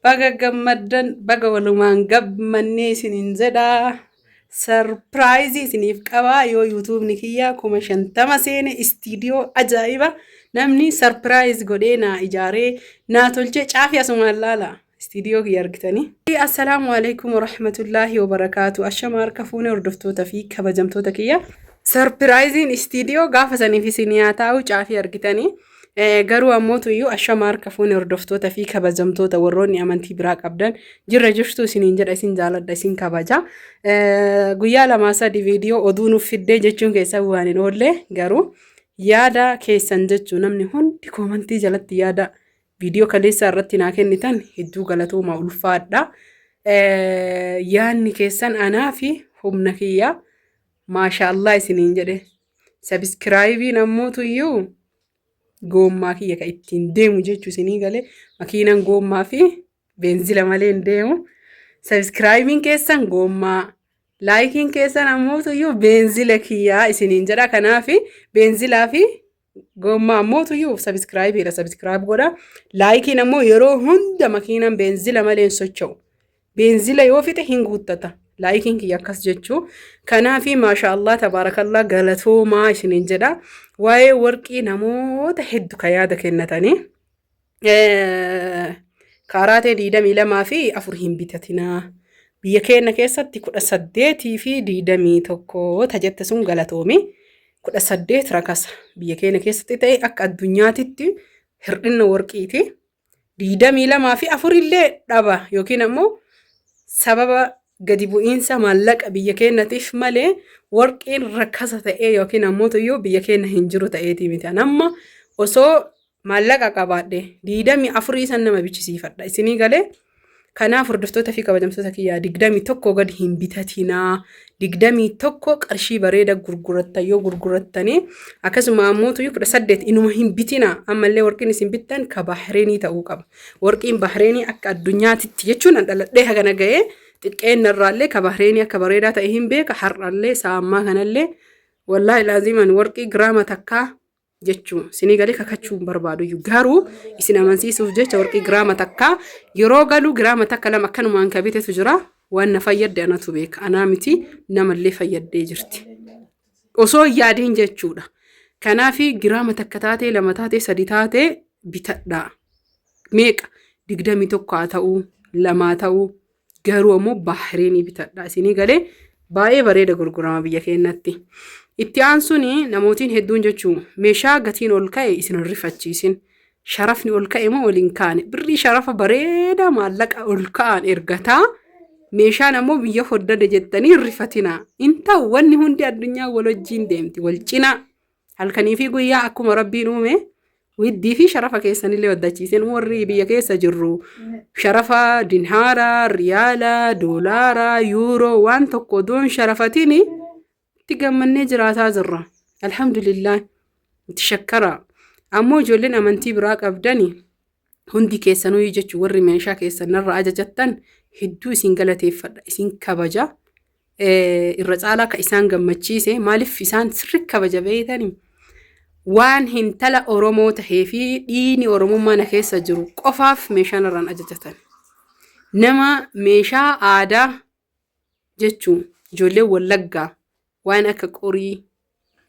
Baga gammaddan baga walumaan gammannee isiniin jedha. Sarpiraayizii isiniif qaba yoo yuutuubni kiyya kuma shantama seene istiidiyoo ajaa'iba namni sarpiraayiz godhee naa ijaaree naa tolchee caafii asumaan laala istiidiyoo kiyya argitanii. Assalaamu alaikum warahmatullaahi wabarakaatu. Ashama harka fuune hordoftoota fi kabajamtoota kiyya. Sarpiraayiziin istiidiyoo gaafa saniif isin yaa taa'u caafii argitanii. Garuu ammootu iyyuu ashama harka fuune hordoftoota fi kabajamtoota warroonni amantii biraa qabdan jirra jirtu isiniin jedha isin jaaladha isin kabaja. Guyyaa lamaa sadi viidiyoo oduu nuuf fiddee jechuun keessaa waan hin oolle garuu yaada keessan jechuu namni hundi koomantii jalatti yaada viidiyoo kaleessaa irratti naa kennitan hedduu galatoomaa ulfaadha. Yaanni keessan anaa fi humna kiyyaa maashaallah isiniin jedhe sabiskiraayibiin ammoo tuyyuu goommaa kiyya ka ittiin deemu jechuu isinii gale makiinan goommaa fi beenzila malee hin deemu sabiskiraayibiin keessan goommaa laayikiin keessan ammoo tuyyuu beenzila kiyyaa isiniin jedha kanaafi beenzilaa fi Gommaa mootuyyuu sabiskiraayibiidha sabiskiraayib godha. Laayikiin ammoo yeroo hunda makiinaan beenzila malee hin socho'u. Beenzila yoo fixe hin guuttata. Laayikiin kiyya akkas jechuu. Kanaafi maasha Allah tabaarakallaa galatoomaa isiniin jedha. Waa'ee warqii namoota heddu ka yaada kennatanii. kaaraatee diidamii lamaa fi afur hin bitatinaa biyya keenya keessatti kudha saddeetii fi diidamii tokko ta jette sun galatoomi kudha saddeet rakasa biyya keenya keessatti ta'e akka addunyaatitti hir'inna warqiiti diidamii lamaa fi afur illee dhaba yookiin ammoo sababa gadi bu'iinsa maallaqa biyya keenyatiif malee warqiin rakkasa ta'ee yookiin ammoo iyyuu biyya keenya hin jiru ta'eetii miti amma osoo maallaqa qabaadhe digdamii afur isan nama bichisiifadha isinii galee kanaaf hordoftoota fi kabajamtoota kiyyaa digdamii tokko gad hin bitatinaa digdamii tokko qarshii bareeda gurguratta yoo gurgurattanii akkasuma ammootu kudha saddeet inuma hin bitinaa ammallee warqiin isin bittan ka bahreenii ta'uu qaba warqiin bahreenii akka addunyaatitti jechuun an dhaladhee hagana ga'ee xiqqeen irraallee ka bahreenii akka bareedaa ta'e hin beeka har'allee sa'ammaa kanallee wallaahi laaziiman warqii giraama takkaa jechuu sinii galee kakachuu hin barbaadu iyyuu garuu isin amansiisuuf jecha warqii giraama takkaa yeroo galuu giraama takka lama akkanumaan ka bitetu jira waan na fayyadde anatu beeka anaa miti namallee fayyaddee jirti osoo hin yaadiin jechuudha kanaafi giraama takka taatee lama taatee sadi taatee bitadhaa meeqa digdamii tokko haa ta'uu lamaa ta'uu Garuu ammoo Baahireenii bitadha isinii galee baay'ee bareeda gurgurama biyya keenyatti. Itti aansuun namootiin hedduun jechuu meeshaa gatiin ol ka'e isin hin rifachiisin. Sharafni ol ka'e moo ol hin kaane birrii sharafa bareedaa maallaqa ol ka'aan ergataa meeshaan ammoo biyya hoddade jettanii hin rifatinaa. Hin ta'u wanni hundi addunyaa wal wajjiin deemti wal cinaa Halkanii fi guyyaa akkuma rabbiin uume widdii fi sharafa keessanillee waddachiiseen warri biyya keessa jirru sharafa dinhaara, riyaala, doolaara, yuuroo waan tokko odoon sharafatiin itti gammannee jiraataa jirra. Alhamdulillah itti shakkara. Ammoo ijoolleen amantii biraa qabdani Hundi keessanuyyuu jechuun warri meeshaa keessan narra ajajattan hedduu isin galateeffadha, isin kabaja. Eh, Irra caalaa ka isaan gammachiise maaliif isaan sirri kabaja beeytanii? Waan hintala Oromoo tahee fi dhiini Oromummaa na keessa jiru qofaaf meeshaa narraan ajajatan. Nama meeshaa aadaa jechuun ijoolleen wallaggaa waan akka qorii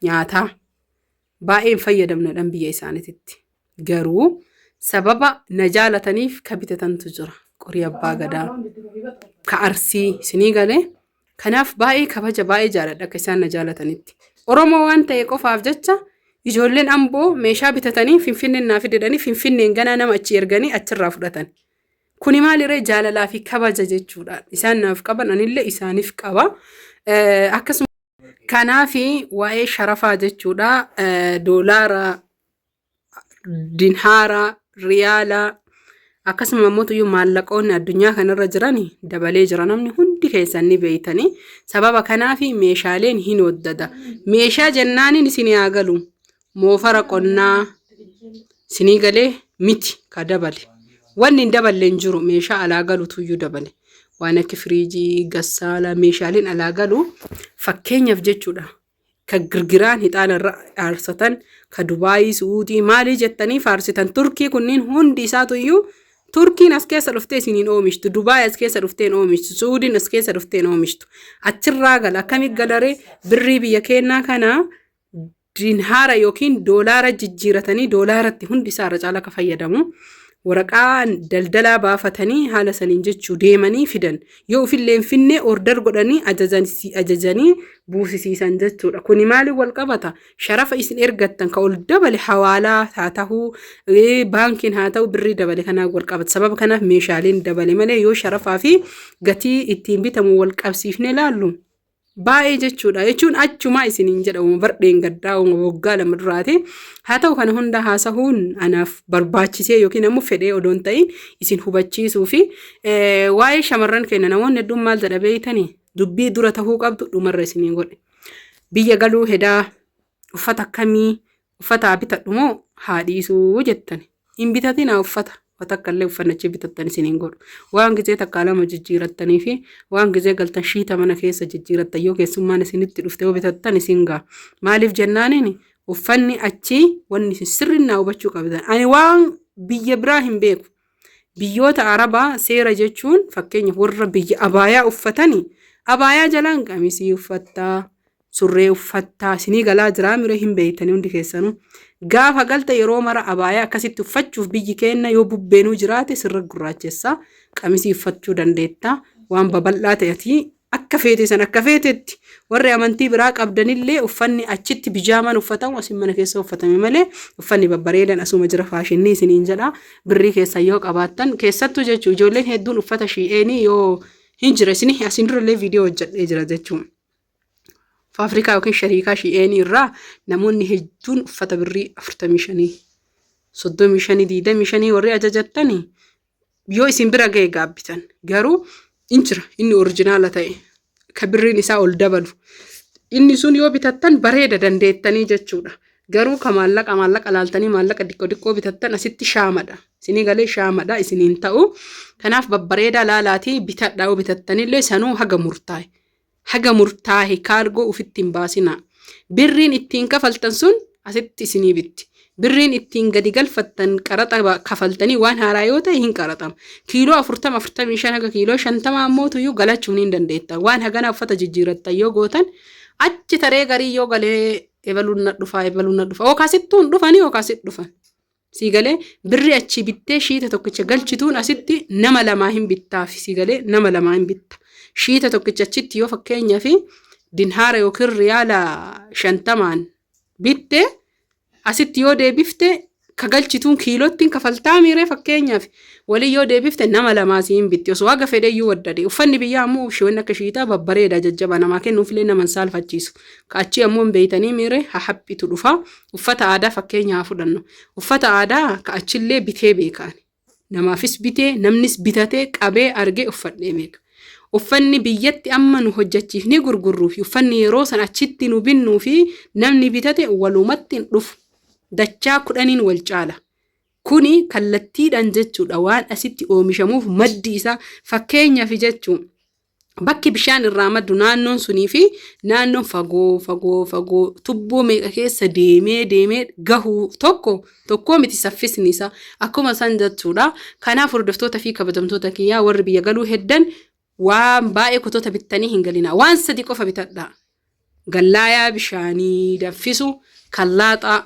nyaataa baay'een fayyadamnadhan biyya isaaniititti garuu sababa na jaalataniif ka bitatantu jira qorii abbaa gadaa ka arsii isinii galee kanaaf baay'ee kabaja baay'ee jaaladha akka isaan na jaalatanitti oromoo waan ta'e qofaaf jecha ijoolleen amboo meeshaa bitatanii finfinneen naa fidedhanii finfinneen ganaa nama achi erganii achirraa fudhatan Kuni maaliree jaalalaa fi kabaja jechuudha. Isaan naaf qaban anillee isaaniif qaba. Akkasuma kanaafi waa'ee sharafaa jechuudha. Doolaara, dinhaara, riyaala akkasuma immoo tuyyuu maallaqoonni addunyaa kanarra jiran dabalee jira namni hundi keessan ni beeytanii sababa kanaafi meeshaaleen hin waddada meeshaa jennaaniin isin haa galu moofara qonnaa sinii galee miti ka dabale wanni hin daballe hin jiru meeshaa alaa galutu iyyuu dabale waan akka firiijii gassaalaa meeshaaleen alaa galu fakkeenyaaf jechuudha ka girgiraan hixaana irra aarsatan ka dubaayii su'uudii maalii jettanii faarsitan turkii kunniin hundi isaatu iyyuu turkiin as keessa dhuftee isiniin oomishtu dubaay as keessa dhufteen oomishtu su'uudiin as keessa dhufteen oomishtu achirraa gala akkamii galaree birrii biyya keenyaa kana Dinhaara yookiin doolaara jijjiiratanii doolaaratti hundi isaa irra caalaa akka fayyadamu waraqaa daldalaa baafatanii haala saniin jechuu deemanii fidan yoo ofillee hin finne order godhanii ajajanii ajajanii buusisiisan jechuudha. Kuni maaliin wal qabata? Sharafa isin ergattan ka ol dabale hawaalaa haa tahu ee, baankiin haa tahu birrii dabale kanaan wal qabata. Sababa kanaaf meeshaaleen dabale malee yoo sharafaa fi gatii ittiin bitamu wal qabsiifnee ilaallu baay'ee jechuudha jechuun achumaa isiniin jedha uuma bardheen gaddaa uuma waggaa lama duraati haa ta'u kana hunda haasahuun anaaf barbaachisee yookiin ammoo fedhee odoon ta'in isin hubachiisuu fi waa'ee shamarran keenya namoonni hedduun maal jedha beeytanii dubbii dura tahuu qabdu dhumarra isiniin godhe biyya galuu hedaa uffata akkamii Uffata haa bitadhu moo haa dhiisuu jettani. Hin bitatinaa uffata. Wa takka illee uffanni achi bitattan isin hin godhu. Waan gizee takkaa lama jijjiirattanii fi waan gizee galtan shiita mana keessa jijjiirattan yoo keessummaan isinitti dhufte yoo bitattan isin ga'a. Maaliif jennaaniin uffanni achi wanni isin sirriin naa hubachuu qabdan. Ani waan biyya biraa hin beeku. Biyyoota Arabaa seera jechuun fakkeenyaaf warra biyya abaayaa uffatani abaayaa jalaan qamisii uffattaa surree uffattaa isinii galaa jiraa mire hin beeytanii hundi keessanuu gaafa galta yeroo mara abaayaa akkasitti uffachuuf biyyi keenna yoo bubbeenuu jiraate sirra gurraachessaa qamisii uffachuu dandeettaa waan babal'aa ta'etii Akka feete san akka feetetti, warri amantii biraa qabdanillee uffanni achitti bijaamaan uffatamu asin mana keessa uffatame malee uffanni babbareedan asuma jira faashinnii isiniin jedha birrii keessan yoo qabaattan keessattuu jechuu ijoolleen hedduun uffata shi'eenii yoo hin jira isinii asin durallee viidiyoo hojjedhee jira jechuu faafrikaa yookiin shariikaa shi'eenii irraa namoonni hedduun uffata birrii afurtamii shanii soddomii shanii diidamii shanii warri ajajattanii yoo isin bira ga'e gaabbitan garuu in jira inni orijinaala ta'e ka birriin isaa ol dabalu inni sun yoo bitattan bareeda dandeettanii jechuudha garuu ka maallaqa maallaqa laaltanii maallaqa diqqoo diqqoo bitattan asitti shaamadha isinii galee shaamadha isiniin ta'u kanaaf babbareedaa laalaatii bitadhaa yoo bitattanillee sanuu haga murtaa'e haga murtaahe kaargoo ufitti hin baasinaa. Birriin ittiin kafaltan sun asitti isinii bitti. Birriin ittiin gadi galfattan qaraxa kafaltanii waan haaraa yoo ta'e hin qaraxama. Kiiloo 40, 45 haga kiiloo 50 ammoo tuyyuu galachuu ni dandeettan. Waan haganaa uffata jijjiirattan yoo gootan achi taree garii yoo galee ebaluun na dhufaa ebaluun na dhufaa yookaas ittuun dhufanii yookaas dhufan. Sii galee birri achii bittee shiita tokkicha galchituun asitti nama lamaa hin bittaafi sii galee nama lamaa hin bitta. Shiita tokkicha achitti yoo fakkeenyaa fi dinhaara yookiin riyaala shantamaan bitte asitti yoo deebifte ka galchituun kiilottiin kafaltaa miiree fakkeenyaaf walii yoo deebifte nama lamaa sii hin bitti osoo haga fedheyyuu waddade uffanni biyyaa ammoo shiwanni akka shiitaa babbareeda jajjabaa namaa kennuufilee nama hin saalfachiisu ka achii ammoo hin beeytanii miiree hahaphitu dhufa Uffata aadaa fakkeenya haa fudhannu. Uffata aadaa ka achillee bitee beekaan. Namaafis bitee, namnis bitatee, qabee, argee uffadhee beeka. Uffanni biyyatti amma nu hojjachiifnee gurgurruu fi uffanni yeroo san achitti nu binnuu fi namni bitate walumatti hin dhufu. Dachaa kudhaniin wal caala. Kuni kallattiidhaan jechuudha waan asitti oomishamuuf maddi isaa fakkeenyaaf jechuu Bakki bishaan irraa maddu naannoon sunii fi naannoon fagoo fagoo fagoo tubboo meeqa keessa deemee deemee gahu tokko tokkoo miti saffisni isaa akkuma san jechuudha. Kanaaf hordoftoota fi kabajamtoota kiyyaa warri biyya galuu heddan waan baay'ee kutoota bittanii hin galinaa. Waan sadi qofa bitadhaa. Gallaayaa bishaanii danfisu kan laaxaa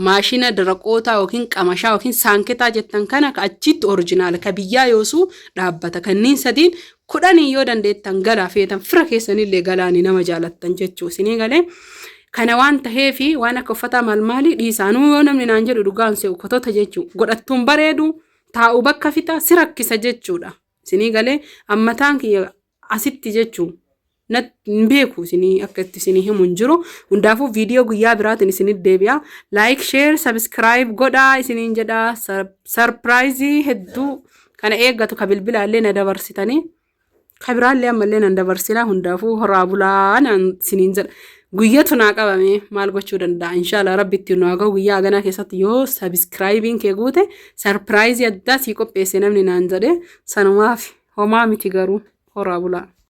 maashina daraqootaa yookiin qamashaa yookiin saanketaa jettan kana ka achiitti orijinaala ka biyyaa yoosuu dhaabbata kanniin sadiin kudhaniin yoo dandeettan galaa feetan fira keessanillee galaani nama jaalattan jechuu isinii galee kana waan taheefi waan akka uffataa maal maalii dhiisaanuu yoo namni naan jedhu dhugaan se'u kotota jechuu godhattuun bareedu taa'u bakka fixa si rakkisa jechuudha isinii galee ammataan kiyya asitti jechu nat hin beeku isinii akka itti isinii himu hin jiru hundaafuu viidiyoo guyyaa biraatiin isinit deebi'a laayik sheer sabiskiraayib godhaa isiniin jedha sarpiraayizii hedduu kana eeggatu ka bilbilaallee na dabarsitanii ka biraallee ammallee nan dabarsinaa hundaafuu horaa bulaa naan isiniin jedha Guyyatu naa qabame maal gochuu danda'a? Inshaallah rabbi itti nu haa gahu guyyaa haganaa keessatti yoo sabiskiraayibiin kee guute sarpiraayizii addaa sii qopheesse namni naan jedhe sanumaaf homaa miti garuu horaa bulaa.